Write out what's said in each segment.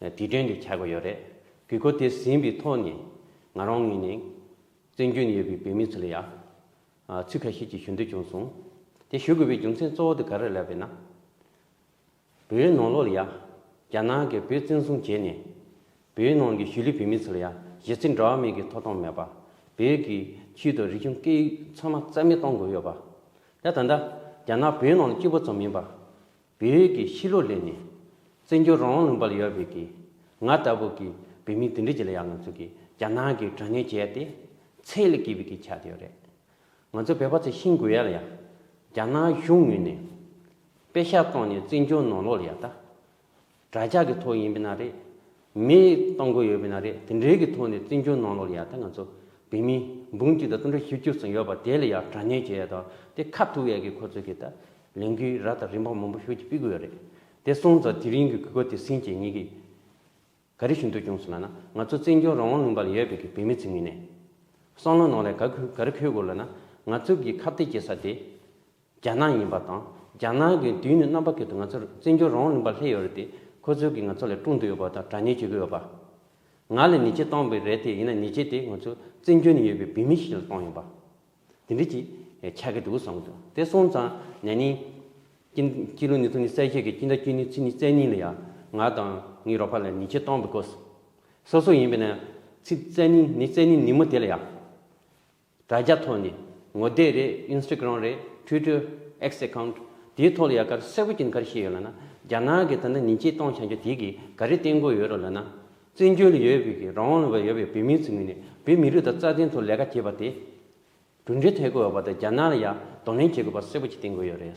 དེ་དོན་དུ་ཆགས་ཀྱི་ཡོད་རེད། གི་གོ་དེ་ཟིན་པའི་ཐོག་ནས་ང་རང་ངོས་ནས་བཙན་བྱོལ་ནས་ཡོད་པའི་བོད་མི་ཚོ་ལ་ཡང་ཚིག་ཁ་ཤས་ཀྱི་ཞུ་འདོད་བྱུང་སོང། དེ་ཞུ་དགོས་པའི་རྒྱུ་མཚན་གཙོ་བོ་དེ་ག་རེ་ལབ་པས་ན། བོད་ནང་ལོགས་ལ་ཡང་རྒྱ་ནག་གིས་བོད་བཙན་བཟུང་བྱས་ནས། བོད་ནང་གི་གཞིས་ལུས་བོད་མི་ཚོ་ལ་ཡང་གཞི་རྩའི་འགྲོ་བ་མིའི་གི་ཐོབ་ཐང་མེད་པ། བོད་ཀྱི་ཆེད་དུ་རིག་གཞུང་སྐད་ཡིག་ཚང་མ་རྩ་མེད་གཏོང་དགོས་ཡོད་པ། དེ་ད་ལྟ་རྒྱ་ནག་བོད་ནང་ལ་སྐྱིད་པོ་ཙམ་མིན་པར། བལ་ཡུལ་གྱི་ཤི་ལོ་ལེ་ནི། བཙན་བྱོལ་རང་དབང་ལུང་པར་ཡོད་བལ་གྱིས་ང་ལྟ་བུ་གྱི་བོད་མི་དེ་འདྲ་གྱི་ལ་ཡང་ང་ཚོ་གྱི་རྒྱ་ནག་གི་དྲ་ངན་བྱས་ཏེ་ཚད་ལས་བརྒལ་བའི་གི་ཆགས་ཡོད་རེད། ང་ཚོ་བལ་བ་ཚོ་ཤིང་དགོས་ཡ་ལ་ཡ། རྒྱ་ནག་གཞུང་ངོས་ནས་དཔེ་ཤག་བཙོང་ནས་བཙན་བྱོལ་ནང་ལོག་ལ་ཡ་ལྟ། དྲ་ཇག་གི་ཐོག་ཡིན་པས་ན་རེད། མེད་གཏོང་དགོས་ཡོད་པས་ན་རེད་དེ་འདྲའི་གི་ཐོག་ནས་བཙན་བྱོལ་ནང་ལོག་ཡག་ད་ང་ཚོ་བོད་མི་འབུམ་གཅིག་དང་སྟོང་ཕྲག་བཞི་བཅུ་ཙམ་ཡོད་པ་དེ་ལ་ཡག་དྲ་ཉན་བྱེད་ཡག་ད་དེ་ཁ་ཐུག་ཡག་གི་ཁོ་ཚོ་གི་ད་ལས་འགུལ་ར་དང་རིན་འབངས་མང་པོ་ཤུགས་ཀྱིས་སྤི་དགོས་ཡག་རེད་དེ་སོང་ཙང་དེ་རིང་གི་གུས་པ་དེ་སིན་བྱེད་ཉིད་ཀྱི་ག་རེ་ཞུ་འདོད་བྱུང་སོང་ལ་ན་ང་ཚོ་བཙན་བྱོལ་རང་དབང་ལུང་པ་ལ་ཡོད་པའི་གི་བོད་མི་ཚོའི་ངོས་ནས་བསམ་བློ་ནང་ལ་ག་གུས་ག་རེ་འཁོད་དགོས་ལ་ན་ང་ཚོ་གི་ཁ་བརྡའི་བྱེད་ས་དེ། རྒྱ་ནག་ཡིན་པ་དང་རྒྱ་ནག་གི་དུས་ཡུན་རྣམ་པ་ཁེལ་དུ་ང་ཚོར་བཙན་བྱོལ་རོང་གླིང་པ་སླེ་ཡོད་རེད་དེ་ཁོ་ཚོའི་གི་ང་ཚོ་ལས་དཀྲུག་འདོད་ཡོད་པ་དང་དྲ་ཉེས་བྱེད་གི་ཡོད་པ། ང་ལས་ནི་ཆེ་གཏོང་པའི་རེད་དེ་ཡིན་ན་ནི་ཆེ་དེ་ང་ཚོ་བཙན་བྱོལ་ནི་ཡོད་པའི་བུད་མེད་ཞིག་ལ་གཏོང་ཡོད་པ། དེ་འདྲི་གྱིས་ཆགས་གི་འདུག་བསམ་གྱི་འདུག་དེ་སོང་ཙང་ནས་ནི། ཀྱི་ཀྱི་ལུག་ནི་ཚུགས་ནི་གསལ་བཤད་གི་ཀྱི་འདྲ་ཀྱི་ནི་ཚིག་ནི་གསལ་ནི་ལ་ཡ། ང་དང་ངའི་རོགས་པ་ལས་ནི་ཆེ་གཏོང་པའི་གོ། སོ་སོ་ཡིན་པས་ན་ཚིག་གསལ་ནི་ནི་གསལ་ནི་ནི་མོ་དེ་ལ་ཡ། དྲ་རྒྱ་ཐོག་ནས་ངོ་དེབ་རེད Instagram རེད Twitter། X Account། དེའི་ཐོག་ལ་ཡ་གར་སེར་པོ་གྱི་འཁར་ཤེས་ཡོད་ལ་ན་རྒྱ་ནག་གི་ད་ན་ཉིན་བྱེད་སྟོང་བྱང་རྒྱ་དེ་གི་ག་རེ་བསྟན་དགོས་ཡོད་རོགས་ལ་ན། བཙན་བྱོལ་ཡོད་བོད་ཀྱི་རང་དབང་ལ་ཡོད་པའི་བོད་མིའི་ཚུལ་མིན་ནས་བོད་མི་རིགས་དང་རྩ་དོན་ཐོག་ལས་ཀ་བྱེད་པ་དེ། གྲུབ་འབྲས་ཐོན་དགོས་ཡོད་པ་དང་རྒྱ་ནག་ལ་ཡ་གདོང་ལེན་བྱེད་དགོས་པ་སེར་པོ་གྱི་བསྟན་དགོས་ཡོད་རེད།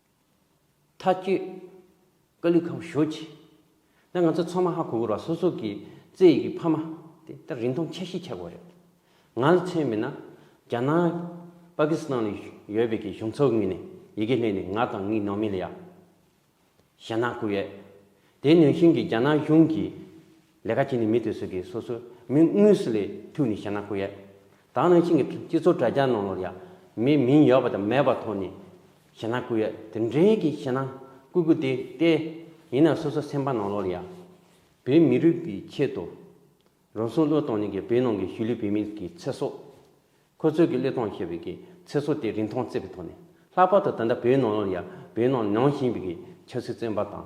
མཐའ་སྐྱོད། སྐུ་ལུས་ཁམས་ཞོ་བྱས། ད་ང་ཚོ་ཚང་མ་ཧ་གོ་གོ་ར་སོ་སོ་གི་རྩེ་ཡི་གི་ཕ་མ་དེ་ད་རིང་ཐུང་ཆ་ཤི་ཆགས་པ་རེད། ང་ལ་མཚོན་མིན་ན་རྒྱ་ནག་པ་ཀི་སི་ཐང་ལ་ཡོད་པའི་གི་གཞུང་ཚོགས་ངོས་ནས་ཡི་གེ་ལྷན་ནས་ང་དང་ངའི་ནང་མི་ལ་ཡ་ཞེ་ན་གུ་ཡོད། དེ་ནུས་ཤིང་གི་རྒྱ་ནག་གཞུང་གི་ལས་ཀ་བྱས་ནས་མི་དེ་ཚོས་ཀྱིས་སོ་སོའི་མིང་དངོས་སུ་ལས་ཐུགས་ནས་བཤད་ན་ཁོ་ཡག། དྭང་ནང་བཞིན་གྱི་སྤྱི་ཚོགས་དྲ་རྒྱ་ནང་ལོར་ཡག་མི་མིང་ཡོད་པ་དང་མེད་པ་ཐོག་ནས་བཤད་ན་ཁོ་ཡག་དེ་འདྲའི་གི་བཤད་ན་སྐུ་སྐུ་དེ་ལྟས། ཡིན་ནའང་སོ་སོ་སེམས་པ་ནང་ལོར་ཡག། བོད་མི་རིགས་ཀྱི་ཆེད་དུ། རང་སྲུང་བློས་གཏོང་ནི་གི་བོད་ནང་གི་གཞུས་ལུས་བོད་མི་གི་ཚེ་སྲོག། ཁོ་ཚོས་གི་བློས་གཏོང་བྱས་པའི་གི་ཚེ་སྲོག་དེ་རིན་ཐང་བརྩི་བའི་ཐོག་ནས་ལྷག་པར་དུ་ད་ལྟ་བོད་ནང་ལོར་ཡག་བོད་ནང་ནང་བཞིན་པའི་གི་ཆབ་སྲིད་བཙོན་པ་དང།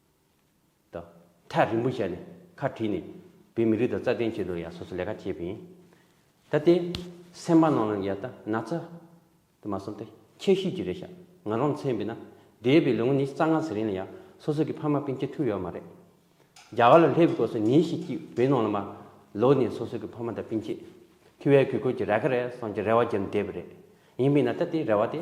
དང། ཐག་རིང་པོ་བཞག་ནས་ཁ་བྲིས་ནས་བོད་མི་རིགས་དང་རྩ་དོན་ཆེད་དུ་ཡང་སོ་སོ་ལས་ཀ་བྱེད་པ་ཡིན། ད་ལྟའི་སེམས་པ་ནང་ལ་ཡ་ད་ན་ཚ་དེ་མ་བསམ་སྟེ་ཁྱད་གཤིས་ཀྱི་རེད་ཤག་ང་རང་མཚན་བས་ན་འདས་པའི་ལོ་ངོ་ཉི་ཤུ་རྩ་ལྔ་ཟེར་ཡང་སོ་སོ་གི་ཕ་མ་སྤུན་མཆེད་ཐུག་ཡོད་མ་རེད། རྒྱ་གར་ལ་སླེབས་དགོས་སོ་ཉིན་ཞིག་གཅིག་བོད་ནང་ལ་མ་ལོག་ནས་སོ་སོ་གི་ཕ་མ་དང་སྤུན་མཆེད་ཐུག་ཡ་གུས་བཀུར་གྱི་ར་ཁ་རེ་བསམ་གྱི་རེ་བ་བརྒྱབ་འདས་པ་རེད། ཡིན་པས་ན་ད་ལྟའི་རེ་བ་དེ།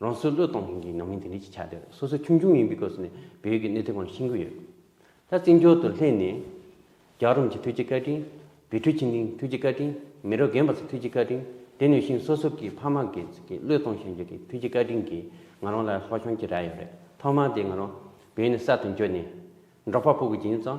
རང་སྲོལ་བློས་གཏོང་མཁན་གྱི་ནང་མི་དེ་འདྲས་ཀྱི་ཆ་དེ་སོ་སོ་ཆུང་ཆུང་ཡིན་པའི་སྐབས་སུ་ནས་བལ་ཡུལ་གྱི་གནས་ཚུལ་གང་ཤེས་ཀྱི་ཡོད། ད་བཙན་བྱོལ་དུ་སླེབས་ནས། རྒྱ་རོམ་གྱི་ཐུའུ་ཅི་བཀའ་དྲིན། བི་ཁྲུ་ཆིན་ཏིང་ཐུའུ་ཅི་བཀའ་དྲིན། མི་རོ་རྒན་པ་ཚོ་ཐུའུ་ཅི་བཀའ་དྲིན། དེ་ནས་བཞིན་སོ་སོ་གི་ཕ་མ་གི་བློས་གཏོང་བྱ་རྒྱུ་གི་ཐུའུ་ཅི་བཀའ་དྲིན་གྱིས་ང་རང་ལ་ལྷོ་གཞོང་གྱི་རྭ་ཡོད་རེད་ཐོག་མར་དེ་ང་རང་བལ་ཡུལ་ནས་གསར་དུ་འབྱོར་ནས། འབྲོག་པ་པོ་གི་སྦྱིན་བསམ།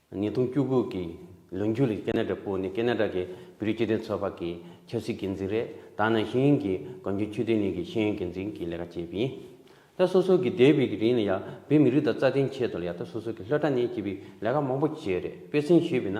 ཉིས་སྟོང་བཅུ་དགུ་གི་ལོ་མཇུག་ལ་ཀེ་ན་ཏྲ་པུའུ་ནི་ཀེ་ན་ཏྲ་གི་བོད་རིགས་སྤྱི་མཐུན་ཚོགས་པ་གི་ཆབ་སྲིད་འགན་འཛིན་རེད་ད་ནངས་ཤེས་ཡོན་གྱི་གང་བྱུང་ཆོས་དོན་གཉིས་ཀྱི་ཤེས་ཡོན་འགན་འཛིན་གྱི་ལས་ཀ་བྱེད་པ་ཡིན། ད་སོ་སོ་གི་འདས་པའི་གི་རིང་ལ་ཡང་བོད་མི་རིགས་དང་རྩ་དོན་ཆེད་དུ་ལ་ཡང་ད་སོ་སོ་གི་ལྷོད་དྲ་གནས་བྱེད་པའི་ལས་ཀ་མང་པོ་བྱས་རེད་དཔེ་ཚན་ཞུས་པས་ན།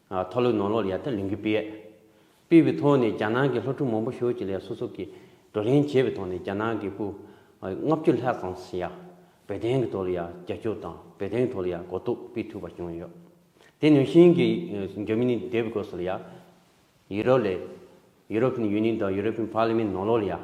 མཐོ་ལུགས་ནོར་ལོག་ཡར་ལྟ་ལུགས་འགུལ་སྤེལ། སྤེལ་བའི་ཐོག་ནས་རྒྱ་ནག་གི་ལྷ་སྒྲུང་མང་པོ་ཞོར་གྱི་ལས་སོ་སོ་གིས་བགྲོ་གླེང་བྱས་པའི་ཐོག་ནས་རྒྱ་ནག་གི་སྐུ་ལྔ་བཅུ་ལྷག་ཙམ་ཞིག་ཡང་བོད་བསྟན་གྱི་ཐོག་ལ་ཡང་རྒྱབ་སྐྱོར་དང་བོད་བསྟན་གྱི་ཐོག་ལ་ཡང་གོ་རྟོགས་སྤེལ་ཐུབ་པ་བྱུང་ཡོད། དེ་ནུས་ཤིང་གི་རྒྱ་མི་ནི་འདས་པའི་སྐོར་སོགས་ལ་ཡང་ཡུ་རོབ་ལས། European Union དང European Parliament ནོར་ལོག་ལ་ཡང་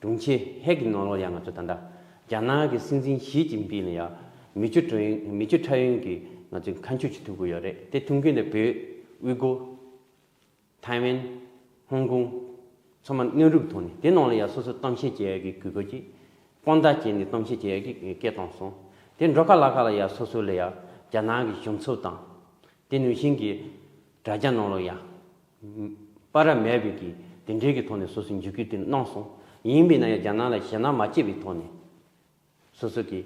དྲུང་ཆེ་ཧེག་གི་ནོར་ལོག་ཡང་ང་ཚོ་ད་ལྟ་རྒྱ་ནག་གི་སྲིད་འཛིན་ཞིས་ཅིན་པིན་ལ་ཡང་མི་བཅུ་ཁྲ་ཡོན་མི་བཅུ་ཁྲ་ཡོན་གྱི་ང་ཚོའི་ཁ་མཆུ་ཅིག་ཐུག་གི་ཡོད་རེད་དེ་ཐུག་མཁན་དེ་བོད་དབུས་གོ་ཐའེ་ཝན་ཧོང་ཀོང་ཚང་མ་གནོན་རུབ་ཐོག་ནས་དེ་ནང་ལ་ཡང་སོ་སོ་གཏམ་བཤད་བྱེད་ཡག་གི་གུས་པ་ཅིག་དཔང་རྟགས་བྱས་ནས་གཏམ་བཤད་བྱེད་ཡག་གི་སྐད་བཏང་སོང་དེ་འགྲོ་ཁ་ལག་ཁ་ལ་ཡང་སོ་སོ་ལ་ཡང་རྒྱ་ནག་གི་གཞུང་ཚབ་དང་དེ་ནུས་ཤིང་གི་དྲ་རྒྱ་ནོར་ལོག་ཡང་པ་ར་མས་བོད་ཀྱི་དེ་འབྲེལ་གྱི་ཐོག་ནས་སོ་སོའི་འཇིགས་སྐུལ་དེ་གནང་སོང། ཡིན་མིན་ན་ཡང་རྒྱ་ནག་ལ་ཞེད་སྣང་མ་སྐྱེས་པའི་ཐོག་ནས། སོ་སོ་གི།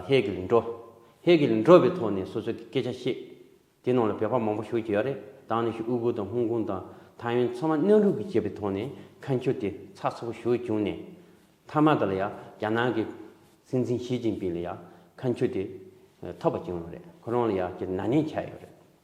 ཧེ་གི་ལི་འགྲོ། ཧེ་གི་ལི་འགྲོ་བའི་ཐོག་ནས་སོ་སོ་གི་སྐད་ཆ་བཤད། དེ་ནང་ལ་བོད་པ་མང་པོ་ཞུགས་ཀྱི་ཡོད་རེད་དང་ནི་ཞུ་དབུལ་པོ་དང་ཧོང་ཀོང་དང་ཐའེ་ཝན་ཚང་མ་གནས་ལུགས་ཀྱི་བྱས་པའི་ཐོག་ནས་ཁ་མཆུ་དེ་ཚགས་ཚུགས་པོ་ཞུ་བྱུང་ནས། མཐའ་མ་དེ་ལ་ཡང་རྒྱ་ནག་གི་སྲིད་འཛིན་ཞི་ཅིན་པིན་ལ་ཡང་ཁ་མཆུ་དེ་ཐོབ་པ་བྱུང་ཡོད་རེད་ཁོ་རང་ལ་ཡང་ནཱ་ནིང་ཆགས་ཡོད་རེད།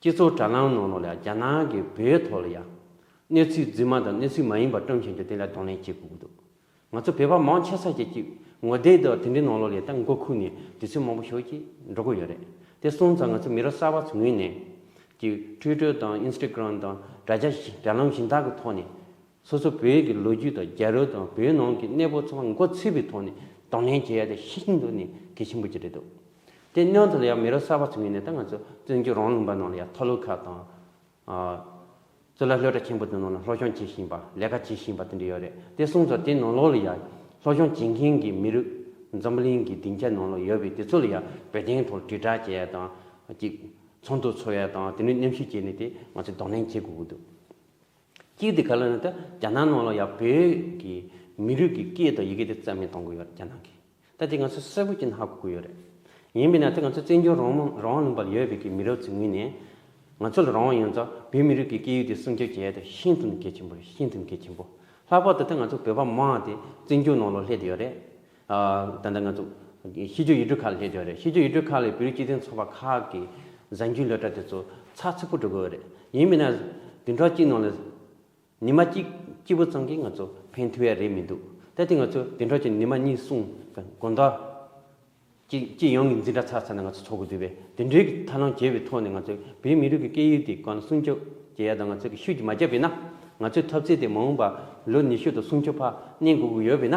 སྤྱི་ཚོགས་དྲ་ལམ་ནང་ལ་ལ་རྒྱ་ནག་གི་བོད་ཐོག་ལ་ཡང། གནས་ཚུལ་རྫུན་མ་དང་གནས་ཚུལ་མ་ཡིན་པ་བཀྲམ་བཞིན་འདུག་དེ་ལ་གདོང་ལེན་བྱེད་དགོས་ཀྱི་འདུག་ང་ཚོ་བོད་པ་མང་ཆེ་ས་ཆ་གཅིག་ངོ་དེབ་དང་དེ་འདྲའི་ནང་ལ་ལས་ད་མགོ་ཁུག་ནས་དུས་ཚོད་མང་པོ་ཞོག་ཅིག་འགྲོ་གི་ཡོད་རེད་དེ་སོང་ཙང་ང་ཚོ་མི་རབས་གསར་པ་ཚོ་ངོས་ནས་ཀྱི Twitter དང Instagram དང་དྲ་རྒྱ་དྲ་ལམ་གཞན་དག་གི་ཐོག་ནས། སོ་སོ་བོད་ཀྱི་ལོ་རྒྱུས་དང་རྒྱལ་རོལ་དང་བོད་ནང་གི་གནས་བབ་ཚང་མ་མགོ་ཚོས་པའི་ཐོག་ནས་དང་ལེན་བྱེད་ཡ་དེ་ཤིན་ཏུ་ནས་གལ་ཆེན་པོ་གྱི་རེད་འདུག་དེ་སྙིང་དོ་ལ་ཡང་མི་རབས་གསར་པ་ཚོ་ངོས་ནས་ད་ང་ཚོ་བཙན་བྱོལ་རང་ལུང་པ་ནང་ལ་ཡང་ཐོ་ལོ་ཁ་དང། གཙུག་ལག་ལྷོ་བྲག་ཆེན་པོ་དེ་ནང་ལ་ལྷོ་ཤོང་བྱེད་བཞིན་པ་ལས་ཀ་བྱེད་བཞིན་པ་དེ་འདྲ་ཡོད་རེད་དེ་གསུངས་སོ་དེ་ནང་ལོགས་ལ་ཡང་ལྷོ་ཤོང་བྱེད་མཁན་གྱི་མི་རིགས་འཛམ་བུ་གླིང་གི་སྡིངས་ཆ་ནང་ལ་ཡོད་པའི་དེ་ཚོ་ལ་ཡང་བོད་དོན་ཐོག་དྲིལ་བསྒྲགས་བྱེད་ཡ་དང། ཚོགས་འདུ་འཚོགས་ཡ་དང་དེ་ནས་མཉམ་ཞུགས་བྱས་ནས་དེ་ང་ཚོ་དང་ལེན་བྱེད་དགོས་ཀྱི་འདུག། སྐད་དེ་ག་ལ་ནི་ད་རྒྱ་ནག་ནང་ལ་ཡང་བོད་ཀྱི་མི་རིགས་ཀྱི་སྐད་དང་ཡི་གེ་དེ་རྩ་མེད་གཏོང་གི་ཡོད་རྒྱ་ནག་གིས་ད་དེ་ང་ཚོ་གསལ་པོ་ཅན་ཧ་གོ་གི་ཡོད་རེད་ཡིན་མིན་ན་དེ་ང་ཚོ་བཙན་བྱོལ་རོང་མོ་རང་དབང་ལུང་པར་ཡོད་བོད་ཀྱི་མི་རབས་ཚོའི་ངོས་ནས་ང་ཚོ་ལ་རང་དབང་ཡོད་ཙང་བོད་མི་རིགས་ཀྱི་སྐད་ཡིག་དེ་སྲུང་སྐྱོབ་བྱེད་ཡ་དེ་ཤིན་ཏུ་ནས་གལ་ཆེན་པོ་རེད་ཤིན་ཏུ་ནས་གལ་ཆེན་པོ་ལྷག་པར་དུ་ད་ང་ཚོ་བོད་པ་མང་དེ་བཙན་བྱོལ་ནང་ལ་སླེབས་ཡོད་རེད་ད་ལྟ་ང་ཚོ་གཤིས་སྤྱོད་ཡིག་འབྲུ་ཁག་ལ་ལྷན་འབྱོར་རེད་གཤིས་སྤྱོད་ཡིག་འབྲུ་ཁག་ལས་བོད་རིགས་སྤྱི་མཐུན་ཚོགས་པ་ཁག་གི་གཟའ་མཇུག་སློད་གྲྭ་དེ་ཚོ་ཚགས་ཚུད་པོ་འགྲོ་དགོས་རེད་ཡིན་མིན་ན་བདུན་ཕྲག་གཅིག་ནང་ལ་ཉི་མ་གཅིག་སྐྱིད་པོ་ཙམ་གྱིས་ང་ཚོ་ཕན་ཐོགས་ཡ་རེད་མི་འདུག་ད་དེ་ང་ཚོ་བདུན་ཕྲག་གཅིག་ནི་མ་གཉིས་གསུམ་དགོན་བདག་གཅིག་སྤྱི་ཡོངས་ཀྱི་འཛིན་གྲྭ་ཚགས་ཚར་ན་ང་ཚོ་ཚོགས་དགོས་དུས་བས་དེ་འབྲེལ་གྱི་ཐབས་ལམ་བྱས་པའི་ཐོག་ནས་ང་ཚོ་བོད་མི་རིགས་ཀྱི་སྐད་ཡིག་དེ་གང་ལ་སྲུང་སྐྱོབ་བྱེད་ཡ་དང་ང་ཚོ་གི་ཤུགས་ཀྱིས་མ་བརྒྱབ་པས་ན་ང་ཚོའི་ཐབས་རྩལ་དེ་མ་འོངས་པ་ལོ་ཉི་ཤུ་དང་སུམ་ཅུ་བར་གནས་འགུག་གི་ཡོད་པས་ན།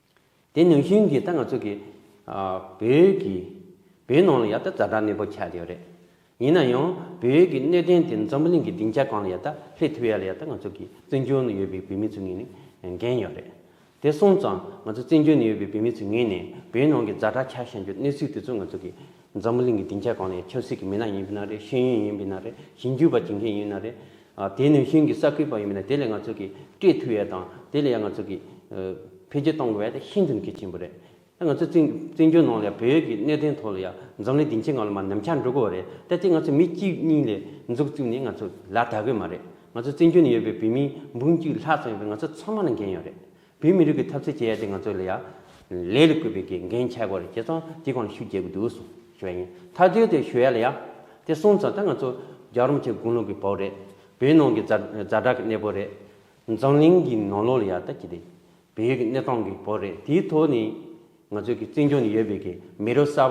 དེ་ནང་བཞིན་གྱི་ད་ང་ཚོ་གི་བོད་ཀྱི་བོད་ནང་ལ་ཡག་ད་ཛར་དྲག་གནས་སྤོ་ཁྱད་ཡོད་རེད། ཡིན་ན་ཡང་བོད་ཀྱི་གནས་བརྟན་དེ་འཛམ་བུ་གླིང་གི་སྡིངས་ཆ་གང་ལ་ཡག་ད་སླེབས་ཐུབ་ཡ་ལ་ཡག་ད་ང་ཚོ་གི་བཙན་བྱོལ་ནང་ཡོད་པའི་བོད་མི་ཚོ་ངེས་ནས་འགན་ཡོད་རེད། དེ་སོང་ཙང་ང་ཚོ་བཙན་བྱོལ་ནས་ཡོད་པའི་བོད་མི་ཚོ་ངེས་ནས་བོད་ནང་གི་ཛར་དྲག་ཁྱག་ཤ་འཇུ་གནས་ཚུལ་དེ་ཚོ་ང་ཚོ་གི་འཛམ་བུ་གླིང་གི་སྡིངས་ཆ་གང་ལ་ཡག་ཆབ་སྲིད་ཀྱི་མི་སྣ་ཡིན་པའི་ན་རེད་ཤེས་ཡོན་ཡིན་པའི་ན་རེད་ཞིབ་འཇུག་པ་བྱེད་མཁན་ཡིན་པའི་ན་རེད། དེ་ནི་ཤིང་གི་ས་ཁུལ་བ་ཡིན་པས་ན་དེ་ལས་ང་ཚོ་གིས་སྤྲོད་མཐུ་ཡོད་དང་དེ་ལས་ཡང་ང་ཚོ་གིས་འཕེལ་རྒྱས་གཏོང་དགོས་པ་དེ་ཤིན་ཏུ་གལ་ཆེན་པོ་རེད། ད་ང་ཚོ་བཙན་བྱོལ་ནང་ལ་ཡང་བོད་ཡུལ་གྱི་གནད་དོན་ཐོག་ལ་ཡང་འཛམ་གླིང་སྡིངས་ཆའི་ངང་ལ་མ་ནམ་འཁྱག་འགྲོ་དགོས་པ་རེད་ད་དེ་ང་ཚོ་མི་གཅིག་གཉིས་ལས་འཛུགས་བཅུག་ནས་ང་ཚོ་ལ་དག་གི་མ་རེད། ང་ཚོ་བཙན་བྱོལ་ནས་ཡོད་པའི་བོད་མི་འབུམ་གཅིག་ལྷག་ཙམ་ཡོད་པས་ང་ཚོ་ཚང་མ་ལ་འགན་ཡོད་རེད། བོད་མི་རིགས་ཀྱི་ཐབས་ཟད་བྱེད་ཡ་དེ་ང་ཚོ་ལ་ཡ། ལས་ལ་བསྐུལ་བའི་གི་འགན་ཆེ་གོ་རེ་བྱེད་ཙང་དེ་གང་ཤུགས་རྒྱག་གི་འདུག་སོང་ཞུ་བ་ཡིན་ད་དུས་དེ་ཞུ་ཡ་ལ་ཡ། དེ་སོང་ཙང་ད་ང་ཚོ་རྒྱ་རོམ་ཆེ་དགུང་ལོ་གི་བོད་རེད་བོད་ནང་གི་རྫ་རྫ་དྲག་གི་གནས་བོད་རེད། འཛམ་གླིང་གི་ནང་ལོག་ལ་ཡ་ད་ཅི་དེ། བལ་ཡུལ་གི་གནས་སྟངས་གི་བོད་རེད་དེའི་ཐོག་ནས། ང་ཚོ་གི་བཙན་བྱོལ་ནས་ཡོད་པའི་གི་མི་རབས་གསར་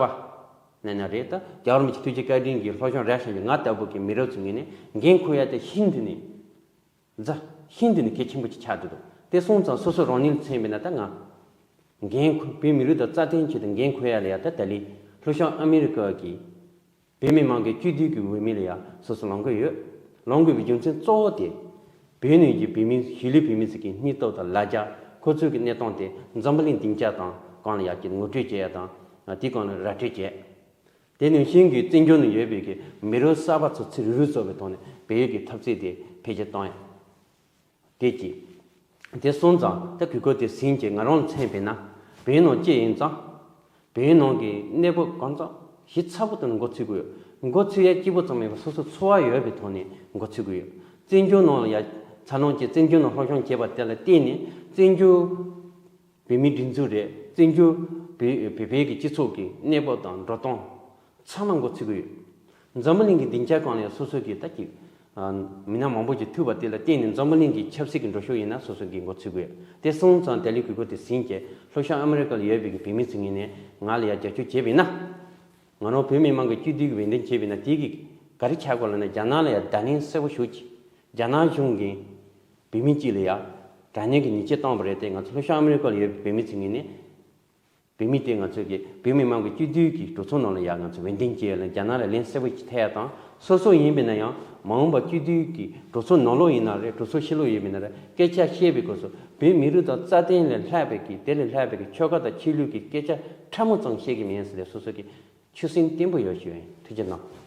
བ། ནས་ན་རེད་ད་རྒྱ་རོམ་གྱི་ཐུགས་རྗེ་བཀའ་དྲིན་གི་ལྷོ་གཞོང་ར་ཤང་གི་ང་ལྟ་བུ་གི་མི་རབས་ཚོ་ངེས་ནས་འགན་འཁུར་ཡ་དེ་ཤིན་ཏུ་ནས། རྫ། ཤིང་དུ་ནི་གེགས་ཆེན་པོ་ཅི་ཆགས་འདི་དང་དེ་སོང་ཙང་སོ་སོ་རང་ཉིད་ལ་མཚན་དཔེ་ན་ད་ང། འགན་ཁུར་བོད་མི་རིགས་དང་རྩ་དོན་ཆེད་དུ་འགན་ཁུར་ཡ་ལ་ཡ་ད་ད་ལི་ལྷོ་ཤང་ཨ་མི་རི་ཀར་གྱི། བོད་མི་མང་གི་བཅུད་བསྡུས་ཀྱི་འོས་མི་ལ་ཡ་སོ་སོ་ལང་དགོས་ཡོད། ལང་དགོས་པའི་རྒྱུ་མཚན་གཙོ་བོ་དེ། བོད་ནུས་ཀྱི་བོད་མི་གཞིས་ལུས་བོད་མི་ཟིག་གི་སྙིང་སྟོབས་དང་ལ་རྒྱ་ཁོ་ཚོའི་གི་གནས་སྟངས་དེ་འཛམ་བུ་གླིང་སྡིངས་ཆ་དང་གང་ལ་ཡ་གྱི་ངོ་སྤྲོད་བྱེད་ཡ་དང་དེ་གང་ལ་ར་སྤྲོད་བྱེད། དེ་ནི་ཤིང་གི་རྩིས་འཇོར་ནས་ཡོད་པའི་གི་མི་རོ་གསར་པ་ཚོ་ཚིག་རིག་རུས་གཙོ་བའི་ཐོག་ནས་བལ་ཡུལ་གྱི་འཐབ་རྩིས་དེ་འཕེལ་རྒྱས་བཏང་ཡོད། དེ་གྱིས། དེ་སོང་ཙང་ད་གི་གོ་དེ་ཟིན་གྱི་ང་རང་ལ་མཚན་བལ་ན་བལ་ཡུལ་ནང་ཅི་ཡིན་ཙང། བལ་ཡུལ་ནང་གི་གནས་བབ་གང་ཙང་གཞི་ཚ་པོ་དང་འགོ་ཚུད་དགོས་ཡོད། འགོ་ཚུད་ཡ་སྐྱིད་པོ་ཙམ་མེད་པར་སོ་སོ་འཚོ་བ་ཡོད་པའི་ཐོག་ནས་འགོ་ཚུད་དགོས་ཡོད། རྩིས་འཇོར་ནང་ལ་ཡ་ཚ་ལོངས་ཀྱིས་རྩིས་འཇོར་ནང་ལྷོ་གཞོང་བྱས་པ་དེ་ལ་བརྟེན་ནས་རྩིས་འཇོར། བོད་མིའི་སྒྲིག་འཛུགས་རེད། བཙན་བྱོལ་བོད་པའི་སྤྱི་ཚོགས་ཀྱི་གནས་བབ་དང་འགྲོ་སྟངས་ཚང་མ་འགོ་ཚུགས་ཀྱི་ཡོད། འཛམ་བུ་གླིང་གི་སྡིངས་ཆ་གང་ལའང་སོ་སོ་གྱི་ད་ཀྱི་མི་སྣ་མང་པོ་ཞིག་ཐུག་པ་དེ་ལ་བརྟེན་ནས་འཛམ་བུ་གླིང་གི་ཆབ་སྲིད་ཀྱི་འགྲོ་ཕྱོགས་ཡིན་ན་སོ་སོ་གྱིས་འགོ་ཚུགས་ཀྱི་ཡོད། དེ་སོང་ཙང་ཏཱ་ལའི་གུས་པོ་དེ་ཟིན་རྗེས་ལྷོ་ཤར་ཨ་མི་རི་ཀ་ལ་ཡོད་པའི་གི་བོད་མི་ཚོས་ངེད་ནས་ང་ལ་ཡར་རྒྱབ་སྐྱོར་བྱེད་པས་ན། ང་རང་བོད་མི་དམངས་ཀྱི་སྤྱི་མཐུས་ཀྱི་འོས་འདེམས་བྱས་པས་ན་དེ་གི་ག་རེ་བྱ་དགོས་ལ་ན་རྒྱ་ནག་ལ་ཡར་བརྡ་ལན་གསལ་བོ་ཞུ་ཅིག་རྒྱ་ནག་གཞུང་གིས། བོད་མི་གཅིག་ལ་ཡང་དྲ་གཉེན་གྱི་ཉེས་ཆད་བཏང་བ་རེད་དེ་ང་ཚོ་ལྷོ་ཤར་ཨ་མེ་རི་ཀ་ལ་ཡོད་པའི་བོད་མི་ཚོས་ངེས་ནས་བོད་མི་དེ་ང་ཚོ་གི་བོད་མི་མང་གི་སྤྱི་འཐུས་ཀྱི་གྲོས་ཚོགས་ནང་ལ་ཡང་ང་ཚོ་འོས་འདེམས་བྱས་ལ་རྒྱ་ནག་ལ་ལན་གསལ་པོ་ཞིག་ཐེ་ཡ་དང་སོ་སོ་ཡིན་པས་ན་ཡང་མ་འོངས་པར་སྤྱི་འཐུས་ཀྱི་གྲོས་ཚོགས་ནང་ལོགས་ཡིན་ན་རེད་གྲོས་ཚོགས་ཕྱི་ལོགས་ཡོད་པས་ན་རེད་སྐད་ཆ་བཤད་པའི་སྐོར་སོགས་བོད་མི་རིགས་དང་རྩ་དོན་ལས་ལྷག་པའི་གི་དེ་ལས་ལྷག་པའི་གི་ཆོལ་ཁ་དང་ཆོས་ལུགས་ཀྱི་སྐད་ཆ་ཕྲ་མོ་ཙམ་བཤད་གི་མིན་ས་ལས་སོ་སོ་གི་ཆུ་སྲིན་བརྟན་པོ་ཡོད་ཞུ་ཡིན་ཐུགས་རྗེ་གནང།